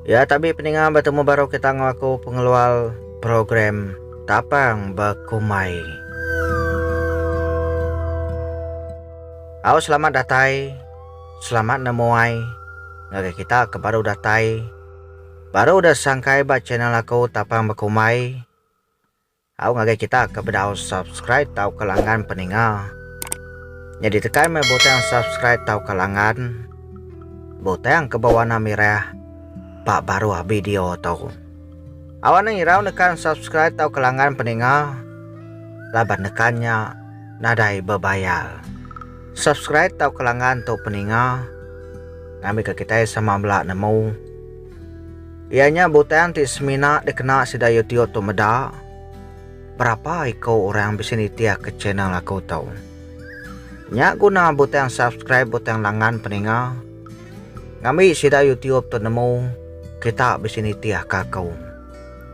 Ya tabi peninga betemu baru kita enggau aku pengelual program tapang bekumai. Au selamat datai, selamat nemuai ngagai kita ke baru datai, baru udah sangkai ba channel aku tapang bekumai. Au ngagai kita ke bedau subscribe tauka langgan peninga. Nyadi tekan meh butang subscribe tauka langgan butang ke bewarna mirah ba baruh video tu. Au anang irau nekan subscribe tauka langgan peninga laban nekan nya nadai bebayar. Subscribe tauka langgan tu peninga ngambika kitai sama bela nemu. Iya nya butang ti semina dikena sida YouTube tu meda. Berapa iko orang bisi nitihka channel aku tu. Nya guna butang subscribe butang langan peninga. Ngambi sida YouTube tu nemu kita bisi nitihka aku.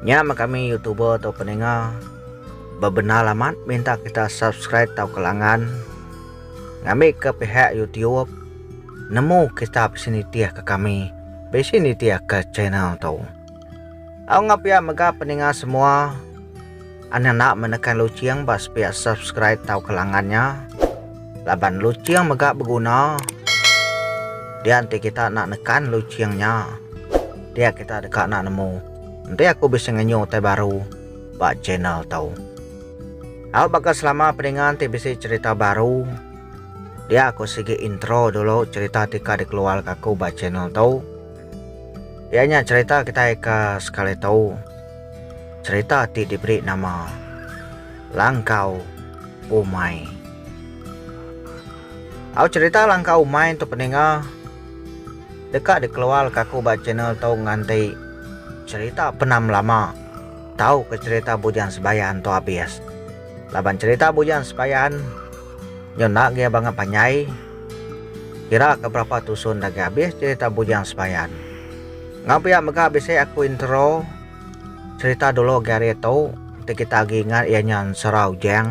Nya meh kami YouTuber tu peninga. Bebendar amat minta kita subscribe tauka langan. Ngambika pihak YouTube nemu kita bisi nitihka kami. Bisi nitih ka channel tu. Au ngapia mega peninga semua. Anda nak menekan lucing ba sepia subscribe tau ke langan nya. Laban lucing mega beguna. Dia enti kita nak nekan lucing nya. Dia kita deka nak nemu. Enti aku bisi ngenyu utai baru ba channel tu. Au baka selama peninga enti bisi cerita baru. Dia aku sigi intro dulu cerita ti ka dikeluarka aku ba channel tu. Iya nya cerita kitai ke sekali tu. Cerita ti diberi nama Langkau Umai. Au cerita Langkau Umai tu peninga deka dikeluarka aku ba channel tu nganti cerita Penam Lama tauka cerita Bujang Sebayan tu abis. Laban cerita Bujang Sebayan Nyau enda gaya bangat panjai. Kira ka berapa tusun dah gaya abis cerita Bujang Sebayan. Enggau pia mega bisi aku intro cerita dulu agi hari tu ti kita agi ingat iya nya Ensera Ujang.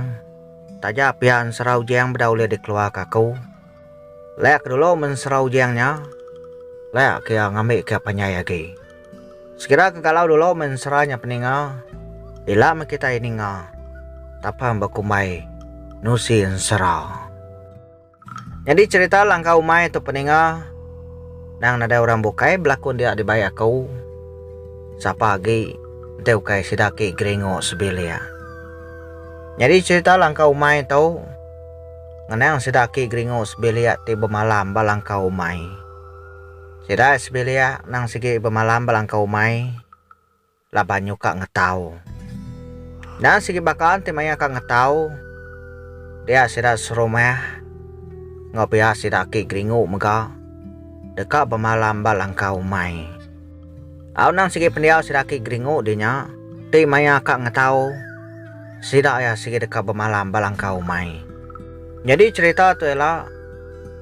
Taja pia Ensera Ujang beda ulih dikeluar ka aku. Leh ke dulu men Ensera Ujang nya leh ke iya ngambi ke iya panjai agi. Sekira ke galau dulu mensera nya peninga, ila meh kitai ninga tapang bekumbai nusi ensera. Nyadi cherita langkah umai tu peninga nang nadai orang bukai belakun dia dibai aku sapa agi enti ukai sida aki geringu sebilik. Nyadi cherita langkah umai tu ngenang sida aki geringu sebilik ti bemalam ba langkah umai. Sida sebilik endang sigi bemalam belangkau umai laban nyuka ngetau. Endang sigi baka enti maya ka ngetau dia sida serumah enggau pia sida aki geringu mega deka bemalam ba langkau umai. Au nang sigi pendiau sida aki Geringu di nya, ti maya ka ngetau sida iya sigi deka bemalam ba langkau umai. Nyadi cherita tu ela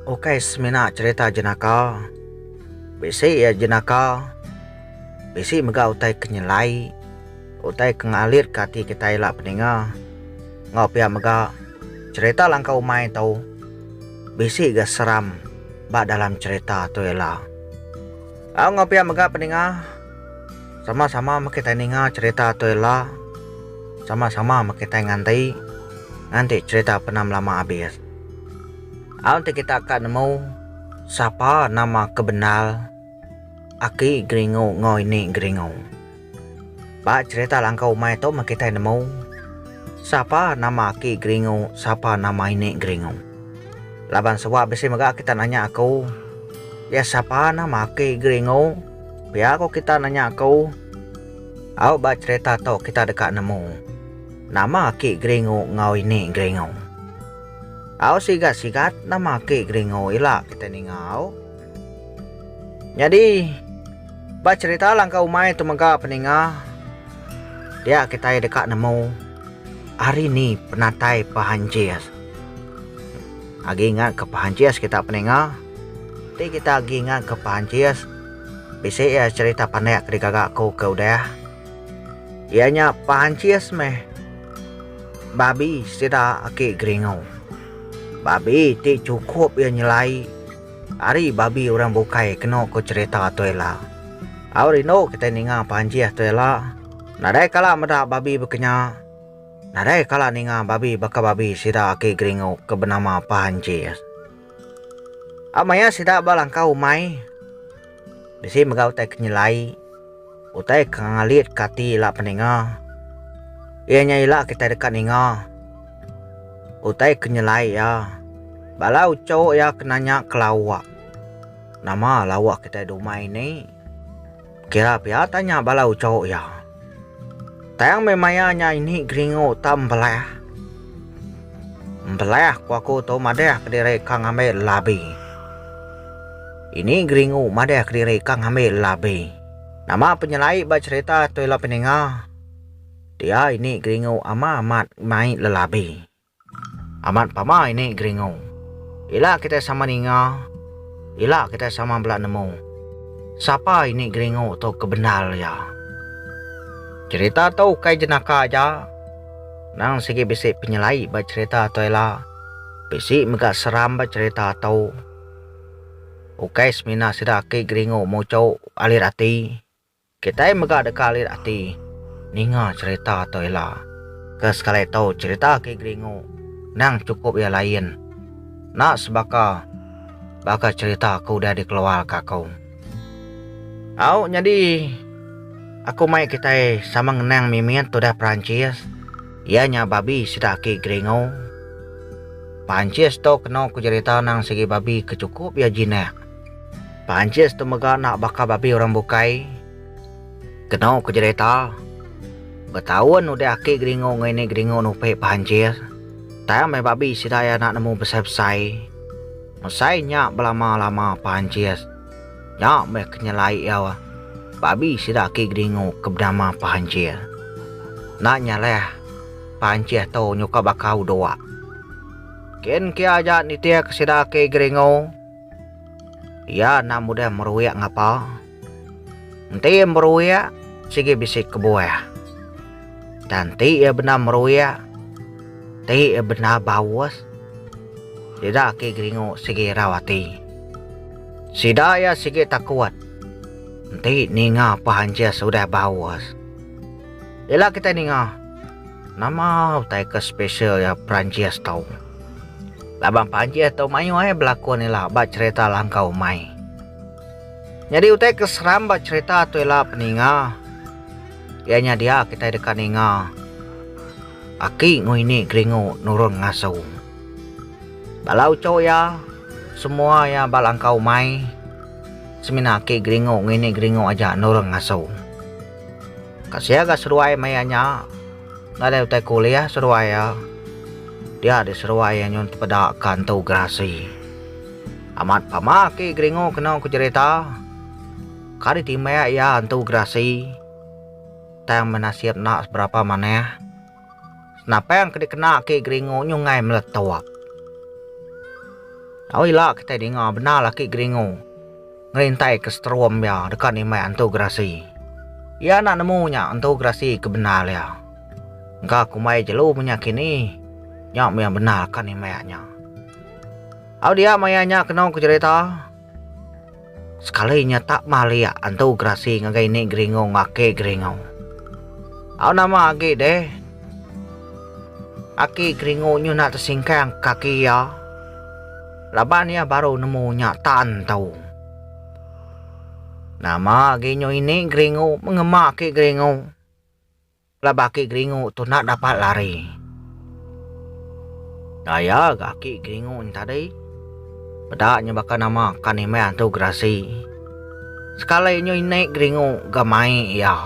ukai semina cherita jenaka, bisi iya jenaka bisi mega utai ke nyelai, utai ke ngalir ke ati kitai ela peninga enggau pia mega cherita langkau umai tu bisi ga seram ba dalam cherita tu ela. Au enggau pia mega peninga sama-sama meh kitai ninga cherita tu ila sama-sama meh kitai nganti nganti cherita penam lama abis. Au enti kita ka nemu sapa nama ke bendar aki geringu enggau ini geringu. Ba cherita langkau umai tu meh kitai nemu sapa nama aki Geringu sapa nama ini Geringu. Laban suba bisi mega kita nanya aku, iya sapa nama aki Geringu? Pia ko kita nanya aku. Au ba cherita tu kita deka nemu nama aki Geringu enggau ini Geringu. Au sigat sigat nama aki Geringu ila kitai ninga au. Nyadi. Ba cherita langkau umai tu mega peninga dia kitai deka nemu ari ni penatai pehanjis. Agi ingat ke pehanjis kita peninga ti kita agi ingat ke pehanjis bisi iya cherita pandak ke digaga aku ke udah iya nya pehanjis meh babi sida aki Geringo. Babi ti chukup iya nyelai. Ari babi orang bukai keno ko cerita tu ela. Au rindu kitai ninga panjih tu ela. Nadai kala meda babi bekenya. Nadai kala ninga babi baka babi sida aki geringu ke benama panjih. Au maya sida ba langkau umai. Bisi mega utai ke nyelai, utai ke ngalitka ati ila peninga. Iya nya ila kitai deka ninga utai ke nyelai iya. Bala uchu iya ke nanya ke lawa, Nama lawa kitai dumai ni? Kira pia tanya bala uchu iya. Tang meh maya nya ini geringu uta embelah. Embelah ku aku tu madah kediri ka ngambil labi. Ini geringu madah kediri ka ngambil labi. Nama penyelai ba cherita tu ila peninga? Dia ini geringu ama amat mai lelabi. Amat pama ini geringu. Ila kitai sama ninga. Ila kitai sama bela nemu. Sapa ini geringu tu ke bendar iya. Cherita tu ukai jenaka aja. Nang sigi bisi penyelai ba cherita tu ila bisi mega seram ba cherita tu. Ukai semina sida aki geringu muchu alir ati. Kitai mega deka alit ati ninga cherita tu ila. Ke sekali tu cherita Ki Geringu endang chukup iya lain. Enda sebaka baka cherita ke udah dikeluarka aku. Au nyadi aku mai kitai sama ngenang mimit tudah Perancis iya nya babi sida Ki Geringu. Perancis tu kena ku cherita endang sigi babi ke chukup iya jinak. Panchis tu mega enda baka babi orang bukai. Keno ku jerita, betaun udah aki Geringu enggau ini Geringu nupi Panchis, tang meh babi sida iya enda nemu besai-besai. Mesai nya belama-lama Panchis nya meh ke nyelai iya babi sida aki Geringu ke benama Panchis. Enda nyeleh Panchis tu nyuka baka udok. Kin ke aja nitihka sida aki Geringu. Iya enda mudih meruik ngapa. Enti iya meruik, sigi bisi kebuah. Tang enti iya bendar meruik, enti iya bendar baus, sida agi geringu sigi irau ati. Sida iya sigi takut enti ninga pehanjis udah baus. Ila kitai ninga, nama utai ke special iya peranjis tu. Laban pajih tau mayuh ai belakon ila ba cherita langkah umai. Nyadi utai ke seram ba cherita tu ila peninga iya nya dia kitai deka ninga aki enggau ini geringu nurun ngasu. Bala uchu iya semua iya ba langkah umai semina aki geringu enggau ini geringu aja nurun ngasu. Ka sia ga seduai maya nya. Nadai utai kuliah seruai iya. Dia diseruai iya nyun tepeda ka entu gerasi. Amat pama aki Gringo keno ku jerita. Ka ditimbak iya entu gerasi tang benasit enda seberapa manah. Senapang ke dikena aki Gringo nyungai meletup. Au ila kitai dinga bendar aki Gringo. ngerintaika seterum iya deka nimbai Antu Gerasi. Iya enda nemu nya Antu Gerasi ke bendar iya. Engka kumbai jelu menya kini, nya mih iya bendar ka nimbai nya. Au dia maya nya kenu ke jerita, sekali nya tak maliak Antu Gerasi ngagai ini Geringu enggau Aki Geringu. Au nama agi deh, Aki Geringu nyun enda tesingkang kaki iya. Laban iya baru nemu nya tan tau. Nama agi nyu ini geringu mengema ki geringu. Pelaba ki geringu tu enda dapat lari. Daya ga ki geringu nya tadi. Peda nya baka nama kan imeh antu gerasi. Sekali nyu ini geringu ga mai iya.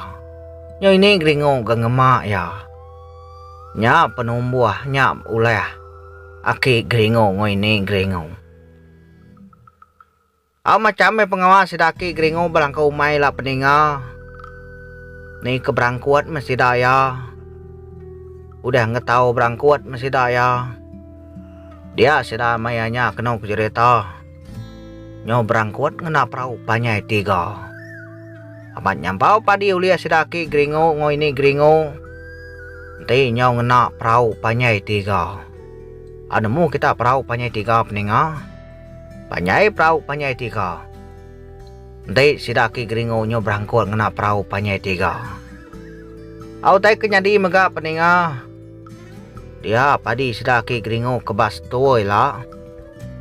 Nyu ini geringu ga ngema iya. Nya penumbuh nya ulih. Aki Geringo ngoi ni Geringo. Au macham meh pengawa sida aki Geringo belangkau umai ila peninga. Ni ke berangkut meh sida iya. Udah ngetau berangkut meh sida iya. Dia sida maya nya kenu ke jerita. Nyau berangkut ngena perau panjai tiga. Amat nyampau padi ulih sida aki geringu enggau ini geringu. Enti nyau ngena perau panjai tiga. A nemu kita perau panjai tiga peninga. Panjai perau panjai tiga. Enti sida aki geringu nyau berangkut ngena perau panjai tiga. A utai ke nyadi mega peninga. Dia padi sida aki geringu kebas tuai la.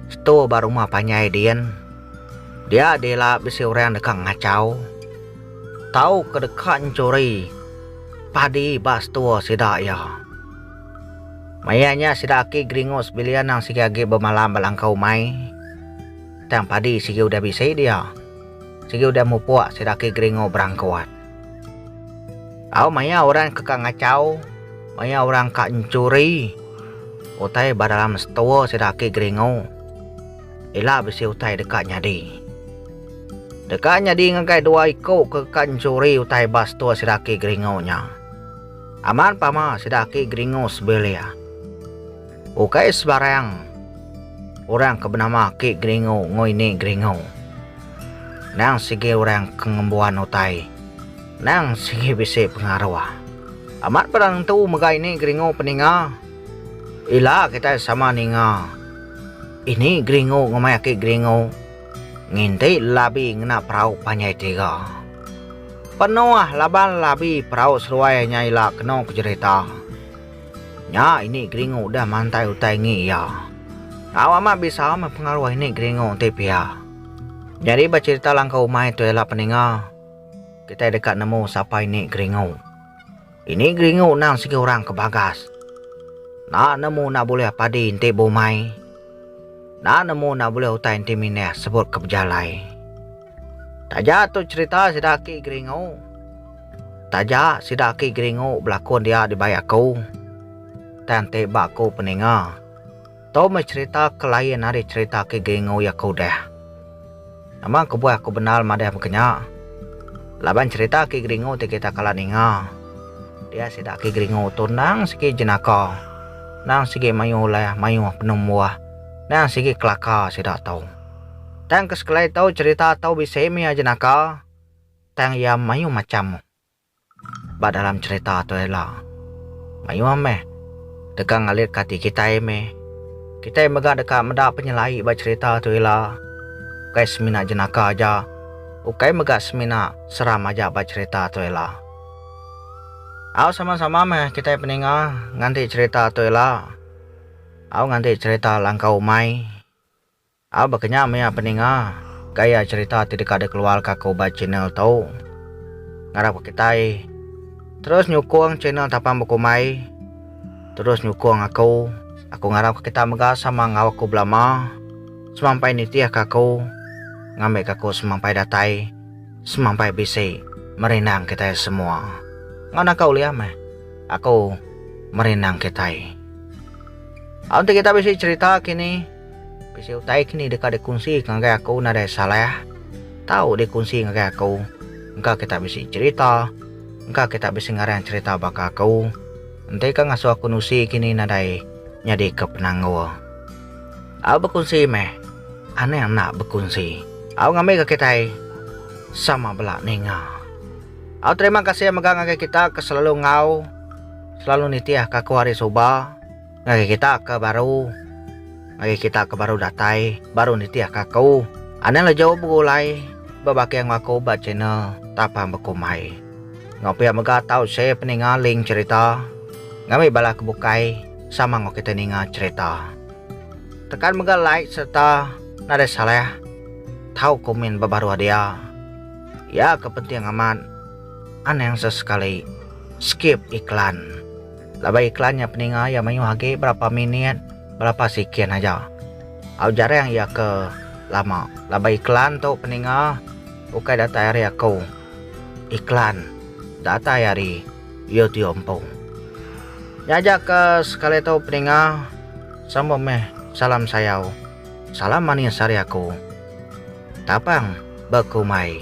Sto ba rumah panjai din. Dia dih ila bisi orang deka ngachau tau ke deka nyuri padi ba sto sida iya. Maya nya sida aki geringu sebilik anang sigi agi bemalam ba langkau umai. Tang padi sigi udah bisi dia. Sigi udah mupuk sida aki geringu berangkut. Au maya orang ke ka ngachau, maya orang ka nchuri utai ba dalam store sida agi geringu. Ila bisi utai deka nyadi. Deka nyadi ngagai dua iku ke ka nchuri utai ba store sida agi geringu nya. Amat pama sida agi geringu sebilik. Ukai sebarang orang ke benama Ki Geringu Nguini Geringu. Endang sigi orang ke ngembuan utai. Endang sigi bisi pengaruh. Amat peda nentu mega ini Geringu peninga. Ila kitai sama ninga ini Geringu ngemaya Ki Geringu nginti labi ngena perau panjai tiga. Penuh laban labi perau seruai nya ila kenu ke jerita. Nya ini Gringo udah mantai utai ngi iya. Tau amat bisau meh pengaruh ini Gringo enti pia. Nyadi becerita langkau umai tu ela peninga kitai deka nemu sapa ini Gringo. Ini Gringo nang sigi orang ke bagas. Enda nemu enda bulih padi enti beumai. Enda nemu enda bulih utai enti mindah sebut ke bejalai. Taja tu cherita sida aki geringu. Taja sida aki geringu belakon dia dibai aku. Tang enti ba aku peninga. Tu meh cherita ke lain ari cherita aki geringu iya ke udah. Nama kebuah aku bendar madah meka nya. Laban cherita aki geringu ti kita kala ninga. Dia sida aki geringu tu endang sigi jenaka. Endang sigi mayuh ulah, mayuh penembuh. Endang sigi kelaka sida tu. Tang ke sekelai tau cerita tau bisi mih aja naka tang iya mayuh macham ba dalam cerita tu ila. Mayuh mih deka ngalitka ati kitai mih. Kitai mega deka meda penyelai ba cerita tu ila ukai semina jenaka aja ukai mega semina seram aja ba cerita tu ila. Au sama-sama mih kitai peninga nganti cerita tu ila au nganti cerita langkau umai. A baka nya mia peninga gaya cerita ti deka dikeluarka ke ubai channel tu. Ngarapka kitai terus nyukung channel Tapan Bekumbai terus nyukung aku. Aku ngarapka kitai mega sama enggau aku belama semampai nitihka aku ngambika aku semampai datai semampai bisi merindang kitai semua. Enggau naka ulih meh aku merindang kitai. Aun ti kita bisi cerita kini. Bisi utai ke ni deka dikunsi ngagai aku nadai salah. Tau dikunsi ngagai aku. Engka kita bisi cherita. Engka kita bisi ngarang cherita baka aku. Enti ka ngasuh aku nusi ke ni nadai nyadi ke penanggul. Au bekunsi meh. Anang enda bekunsi. Au ngambi ke kitai sama bela ninga. Au terima kasih mega ngagai kita ke selalu ngau, selalu nitih ke aku hari suba. Ngagai kita ke baru. Ngagai kita ke baru datai, baru nitih aka aku. Anang le jauh begulai, bebakih enggau aku ba channel Tapang Bekumbai. Enggau pia mega tau share peninga link cherita ngambi bala ke bukai sama enggau kitai ninga cherita. Tekan mega like sereta nadai salah tau komen ba baruh dia. Iya ke penting amat. Anang sesekali skip iklan. Laban iklan nya peninga iya mayuh agi berapa minit berapa sikin aja. Au jarang iya ke lama laban iklan tu peninga ukai datai ari aku. Iklan datai ari YouTube empu. Nya aja ke sekali tu peninga sambung meh salam sayau. Salam manis ari aku. Tapang bekumai.